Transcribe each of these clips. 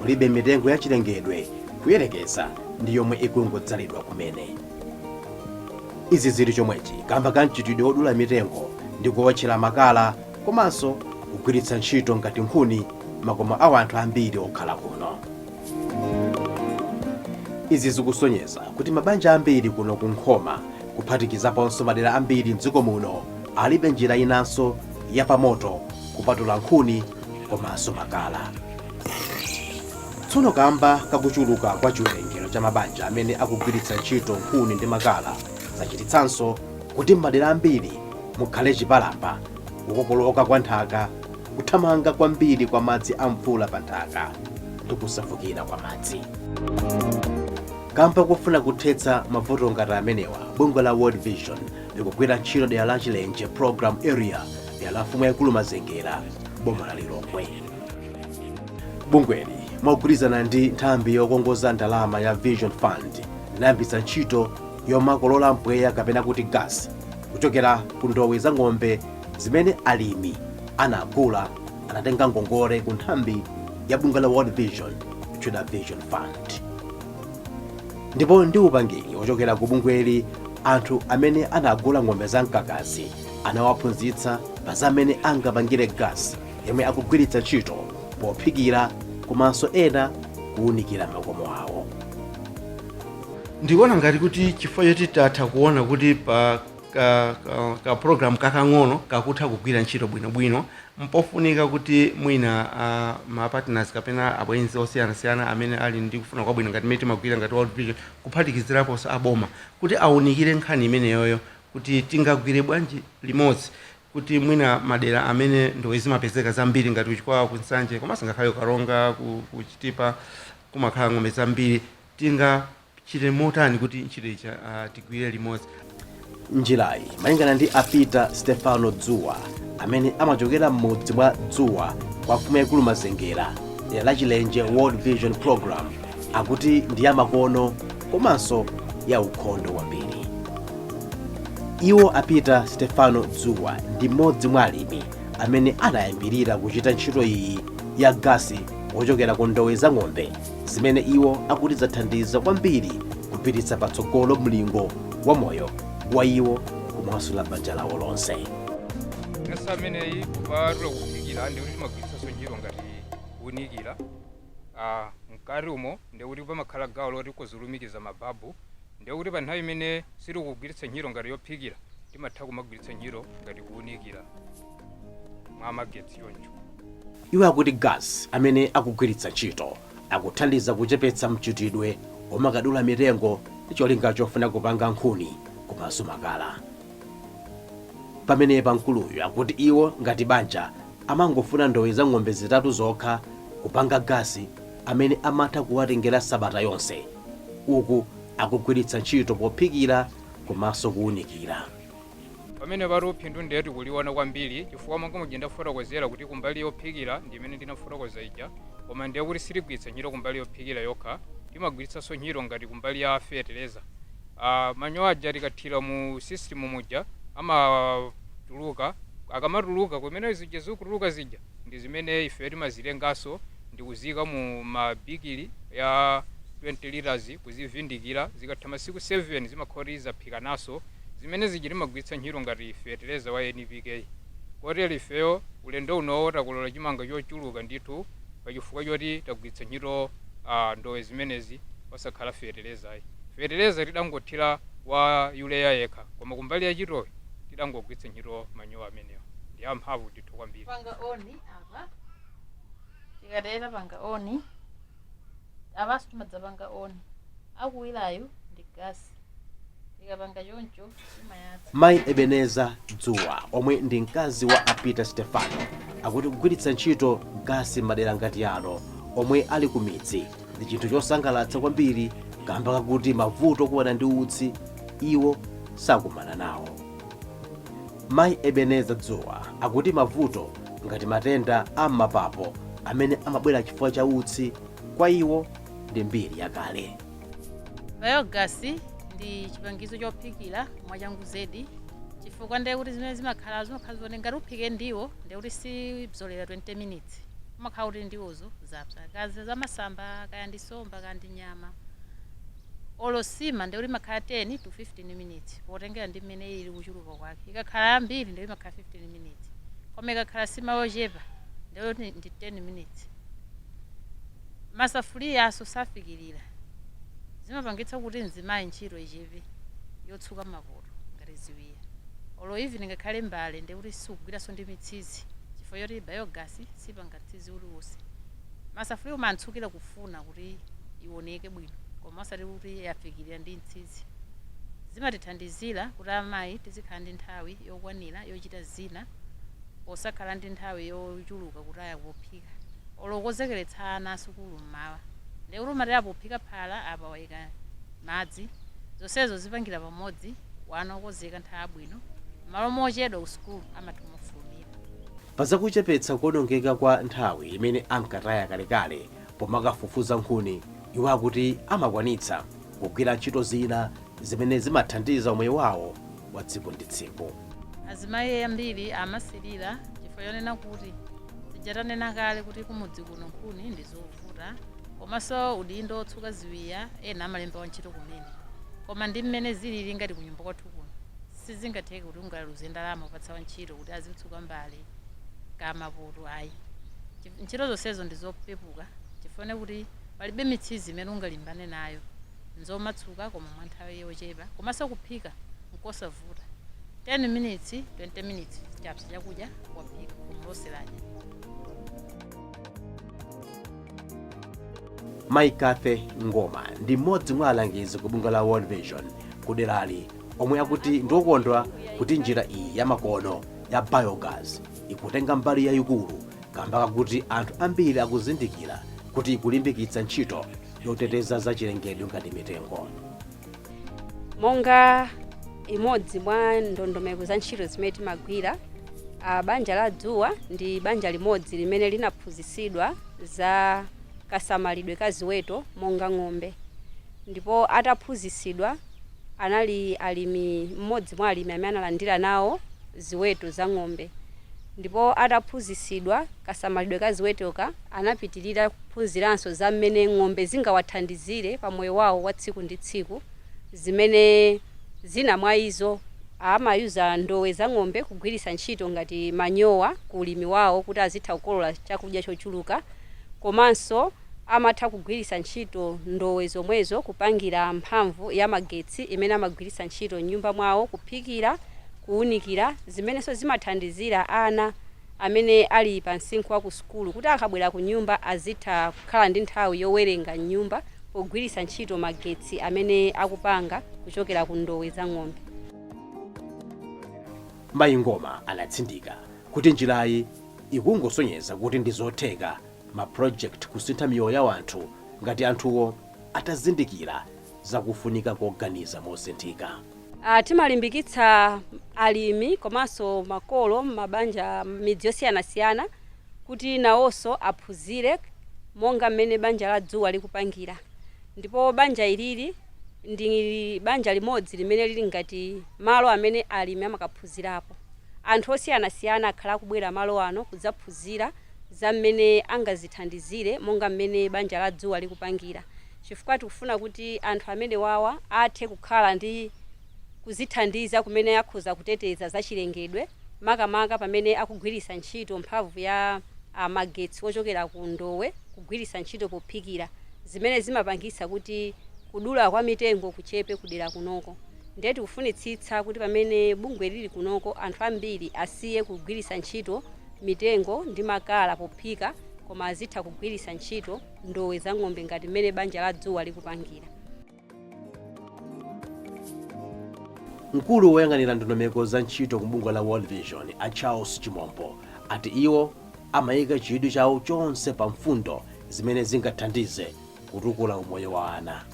mulibe mitengo ya chilengedwe kuyerekeza ndi yomwe ikungodzalidwa kumene izi zili chomwechi kamba ka mchitidwe wodula mitengo ndi kuwotchera makala komanso kugwiritsa ntchito ngati nkhuni m'makomo a anthu ambiri okhala kuno izi zikusonyeza kuti mabanja ambiri kuno ku nkhoma kuphatikizaponso madera ambiri mdziko muno alibe njira inanso yapamoto kupatula nkhuni komanso makala tsono kamba kakuchuluka kwa chiwerengero cha mabanja amene akugwiritsa ntchito nkhuni ndi makala zachititsanso kuti m'madera ambiri mukhale chipalamba kukokoloka kwa nthaka kuthamanga kwambiri kwa madzi a mvula pa nthaka ndi kusefukira kwa madzi kamba kofuna kuthetsa mavuto ngati amenewa bungwe la world vision likugwira ntchito m'dera la chilenje program area dera la mfumu yaikulu mazengera boma la lilongwe bungweli mogwirizana ndi nthambi yokongoza ndalama ya vision fund linayambitsa ntchito yomakolola mpweya kapena kuti gasi kuchokera ku ndowe za ng'ombe zimene alimi anagula anatenga ngongole ku nthambi ya bungwe la world vision yotchedwa vision fund ndipo ndi upangiri wochokera ku bungweli anthu amene anagula ng'ombe za mkakazi anawaphunzitsa pa za m'mene angapangire gasi yomwe akugwiritsa ntchito pophikira komanso ena kuwunikira makomo awo ndikuona ngati kuti chifukwa choti tatha kuona kuti pa ka, ka, ka program kakang'ono kakutha kugwira ntchito bwinobwino mpofunika kuti mwina uh, ma partners kapena abwenzi osiyanasiyana amene ali ndi kufuna kwabwino ngati mmene timagwira ngati world vision kuphatikiziraponso aboma kuti awunikire nkhani imeneyoyo kuti tingagwire bwanji limodzi kuti mwina madera amene ndowe zimapezeka zambiri ngati ku Chikwawa, ku Nsanje komanso ngakhale ku Karonga, ku, ku Chitipa kumakhala ng'ombe zambiri, tingachite motani kuti ntchito ija ah, tigwire limodzi? njirayi malingana ndi a Peter stefano dzuwa amene amachokera m'mudzi mwa dzuwa kwa mfumu yaikulu mazengera dera la chilenje world vision program akuti ndi yamakono komanso ya ukhondo wambiri iwo a Peter stefano dzuwa ndi mmodzi mwa alimi amene anayambirira kuchita ntchito iyi ya gasi wochokera ku ndowe za ng'ombe zimene iwo akuti zathandiza kwambiri kupititsa patsogolo mlingo wa moyo wa iwo komanso la banja lawo lonse gasi ameneyi kupatula kuphikira ndi kuti timagwiritsanso ntchito ngati kuunikira aah mkati umo ndiye kuti pamakhala gawo loti ukhoza kulumikiza ma bulb ndiye kuti pa nthawi imene sitikugwiritsa ntchito ngati yophikira timatha kumagwiritsa ntchito ngati kuunikira mwa magetsi choncho. Iwo akuti gas amene akugwiritsa ntchito akuthandiza kuchepetsa mchitidwe omakadula mitengo ndi cholinga chofuna kupanga nkhuni komanso makala. Pamenepa mkuluyu akuti iwo ngati banja Amangofuna ndowa za ng'ombe zitatu zokha kupanga gas amene amatha kuwatengera sabata yonse uku akugwiritsa ntchito pophikira komanso kuunikira. Pamenepatu phindu ndiye tikuliona kwambiri chifukwa monga muja ndafotokozera kuti kumbali yophikira ndi imene ndinafotokoza ija koma ndiye kuti sitigwiritsa ntchito kumbali yophikira yokha, timagwiritsanso ntchito ngati kumbali ya fetereza. Manyowa aja tikathira mu system muja amatuluka, akamatuluka kumene zija zikutuluka zija ndi zimene ifeyo timazitenganso ndi kuziika mu ma bigili a 20 litres kuzivindikira, zikatha masiku 7 zimakhala kuti zaphikananso, zimene zija timagwiritsa ntchito ngati fetereza wa NPK. Kotero ifeyo ulendo unowo takolola chimanga chochuluka ndithu pa chifukwa choti tagwiritsa ntchito ndowe zimenezi osakhala feteleza ayi. Feteleza tidangothira wa Urea yekha koma kumbali ya chitowe tidangogwiritsa ntchito manyowa amenewa. Ndi amphamvu ndithu kwambiri. Tapanga on apa. Tikatero tapanga on. Apanso timadzapanga on. Akuwirayu ndi gasi. tikapanga choncho timayatsa mayi ebeneza dzuwa omwe ndi mkazi wa a peter stefano akuti kugwiritsa ntchito gasi m'madera ngati ano omwe ali ku midzi ndi chinthu chosangalatsa kwambiri kamba kakuti mavuto okumana ndi utsi iwo sakumana nawo mayi ebeneza dzuwa akuti mavuto ngati matenda a m'mapapo amene amabwera chifukwa cha utsi kwa iwo ndi mbiri yakale Biogas ndi chipangizo chophikira mwachangu zedi chifukwa ndiye kuti zimene zimakhala zimakhala zoti ngati uphike ndiwo ndiye kuti sipyolera 20 minutes umakhala kuti ndiwozo zapsa kaya ndi zamasamba kaya ndi somba kaya ndi nyama olo sima ndiye kuti imakhala 10 to 15 minutes potengera ndi mmene ili kuchuluka kwake ikakhala yambiri ndiye imakhala 15 minutes koma ikakhala sima yochepa ndiye kuti ndi 10 minutes Masafuliyaso sapikilira zimapangitsa kuti mzimayi ntchito ichepe yotsuka mapoto ngati ziwiya olo even ngakhale mbale ndiye kuti sikugwiraso ndi mitsizi chifukwa choti biogas sipanga mtsizi uliwose ndiye safuliya umatsukira kufuna kuti iwoneke bwino koma osati kuti yapikilira ndi mtsizi zimatithandizira kuti amayi tizikhala ndi nthawi yokwanira yochita zina posakhala ndi nthawi yochuluka kutaya pophika olo kukonzekeretsa ana asukulu m'mawa nde kuti umatera pophika phala apa waika madzi zonsezo zipangira pamodzi wana okonzeka nthawi abwino m'malo mochedwa ku sukulu amatha mofulumira. Pa za kuchepetsa kuonongeka kwa nthawi imene ankataya kalekale pomakafufuza nkhuni, iwo akuti amakwanitsa kugwira ntchito zina zimene zimathandiza umoyo wawo wa tsiku ndi tsiku. Azimayi ambiri amasilira chifukwa chonena kuti tija tanena kale kuti kumudzi kuno nkhuni ndi zovuta komanso udindo wotsuka ziwiya ena amalemba wantchito kumene koma ndi mmene zilili ngati kunyumba kwathu kuno sizingatheke kuti ungaluze ndalama kupatsa wantchito kuti azitsuka mbale ka mapoto ayi ntchito zonsezo ndi zopepuka chifukwa kuti palibe mitsizi imene ungalimbane nayo nzomatsuka koma mwa nthawi yochepa komanso kuphika nkosavuta 10 minutes 20 minutes chapsa chakudya waphika koma loseladya mayi kathe ngoma ndi mmodzi mwa alangizi ku bungwe la world vision kuderali omwe akuti ndiokondwa kuti njira iyi yamakono ya biogas ikutenga mbali yayikulu kamba kakuti anthu ambiri akuzindikira kuti ikulimbikitsa ntchito yoteteza zachilengedwe ngati mitengo. Monga imodzi mwa ndondomeko za ntchito zimene timagwira, banja la Dzuwa ndi banja limodzi limene linaphunzitsidwa za kasamalidwe ka ziweto monga ng'ombe. Ndipo ataphunzitsidwa anali alimi, mmodzi mwa alimi amene analandira nawo ziweto za ng'ombe. Ndipo ataphunzitsidwa kasamalidwe ka ziwetoka anapitirira Phunziranso za mmene ng'ombe zingawathandizire pa moyo wawo wa tsiku ndi tsiku, zimene zina mwa izo. Amayuza ndowe za ng'ombe kugwiritsa ntchito ngati manyowa ku ulimi wawo kuti azitha kukolola chakudya chochuluka, komanso amatha kugwiritsa ntchito ndowe zomwezo kupangira mphamvu ya magetsi imene amagwiritsa ntchito m'nyumba mwawo kuphikira, kuunikira, zimenenso zimathandizira ana. amene ali pa msinkhu wa kusukulu kuti akabwera kunyumba azitha kukhala ndi nthawi yowerenga m'nyumba pogwiritsa ntchito magetsi amene akupanga kuchokera ku ndowe za ng'ombe. Mayi Ngoma anatsindika kuti njirayi ikungosonyeza kuti ndi zotheka ma project kusintha miyoyo ya anthu ngati anthuwo atazindikira za kufunika koganiza mosinthika. Ah, timalimbikitsa alimi komanso makolo m'mabanja m'midzi yosiyanasiyana kuti nawonso aphunzire monga mmene banja la dzuwa likupangira ndipo banja ilili ndi banja limodzi limene lili ngati malo amene alimi amakaphunzirapo anthu osiyanasiyana akhala akubwera malo ano kudzaphunzira za mmene angazithandizire monga mmene banja la dzuwa likupangira chifukwa tikufuna kuti anthu amenewawa athe kukhala ndi kuzithandiza kumene akhoza kuteteza za chilengedwe makamaka pamene akugwiritsa ntchito mphamvu ya a magetsi ochokera ku ndowe kugwiritsa ntchito pophikira zimene zimapangitsa kuti kudula kwa mitengo kuchepe kudera kunoko ndiye tikufunitsitsa kuti pamene bungwe lili kunoko anthu ambiri asiye kugwiritsa ntchito mitengo ndi makala pophika koma azitha kugwiritsa ntchito ndowe za ng'ombe ngati mmene banja la dzuwa likupangira. mkulu woyang'anira ndondomeko za ntchito ku bungwe la world vision a charles chimombo ati iwo amayika chidwi chawo chonse pa mfundo zimene zingathandize kutukula umoyo wa ana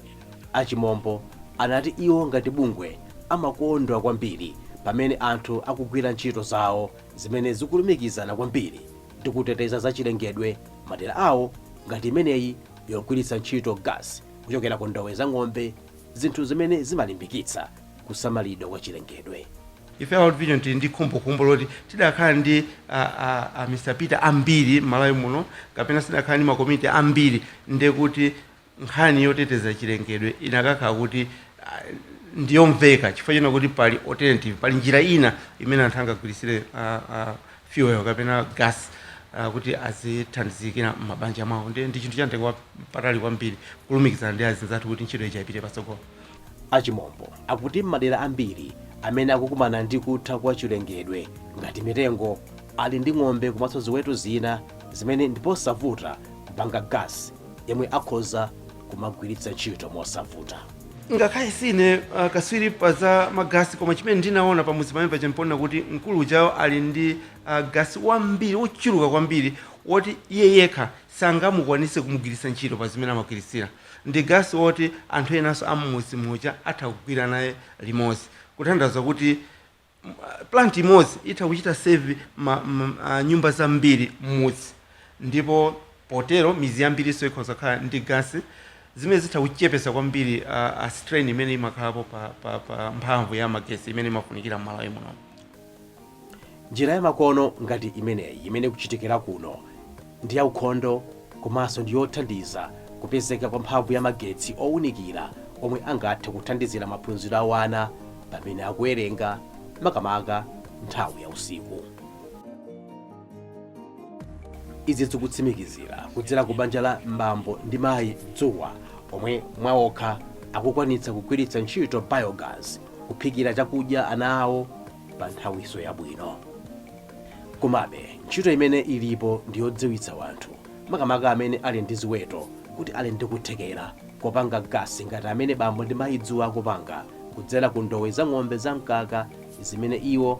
a chimombo anati iwo ngati bungwe amakondwa kwambiri pamene anthu akugwira ntchito zawo zimene zikulumikizana kwambiri ndi kuteteza zachilengedwe madera awo ngati imeneyi yogwiritsa ntchito gas kuchokera ku ndowe za ng'ombe zinthu zimene zimalimbikitsa kusamalidwa kwa chilengedwe ife a World Vision tili ndi khumbokhumbo loti tidakakhala ndi a, a, a Mr Peter ambiri m'Malawi muno kapena tidakakhala ndi makomiti ambiri ndekuti nkhani yoteteza chilengedwe inakakhala kuti ah, ndiyomveka chifukwa chonena kuti pali alternative pali njira ina imene anthu angagwiritsire ah, ah, fuel kapena gas ah, kuti azithandizikira m'mabanja mwawo ndiye ndi chinthu chamtengo wapatali kwambiri kulumikizana ndi azinzathu kuti ntchito ijayi ipite patsogolo A Chimombo akuti m'madera ambiri amene akukumana ndi kutha kwa chilengedwe ngati mitengo ali ndi ng'ombe komanso ziweto zina zimene ndiposavuta kupanga gasi yemwe akhoza kumagwiritsa ntchito mosavuta. ngakhale sine uh, kaswiri pa za magasi koma chimene ndinaona pamudzi pamene paja mponena kuti mkulu ujayo ali ndi uh, gasi wambiri wochuluka kwambiri woti iye yekha sangamukwanise kumugwiritsa ntchito pa zimene amagwiritsira Ndi gasi woti anthu enanso a m'mudzi muja atha kugwira naye limodzi. Kutanthauza kuti plant imodzi itha kuchita serve nyumba zambiri m'mudzi ndipo potero midzi yambirinso ikhoza kukhala ndi gasi zimene zitha kuchepetsa kwambiri strain imene imakhalapo pa mphamvu ya magetsi imene imafunikira m'Malawi munomu. Njira yamakono ngati imeneyi imene ikuchitikira kuno ndi yaukhondo komanso ndi yothandiza kupezeka kwa mphamvu ya magetsi owunikira omwe angathe kuthandizira maphunziro a wana pamene akuwerenga makamaka nthawi ya usiku. Izi zikutsimikizira kudzera ku banja la Bambo ndi Mayi Dzuwa omwe mwaokha akukwanitsa kugwiritsa ntchito biogas kuphikira chakudya ana awo pa nthawiso yabwino. Komabe, ntchito imene ilipo ndi yodziwitsa wanthu, makamaka amene ali ndi ziweto, kuti ali ndi kuthekera kopanga gasi ngati amene Bambo ndi Mayi Dzuwa akupanga kudzera ku ndowe za ng'ombe za mkaka zimene iwo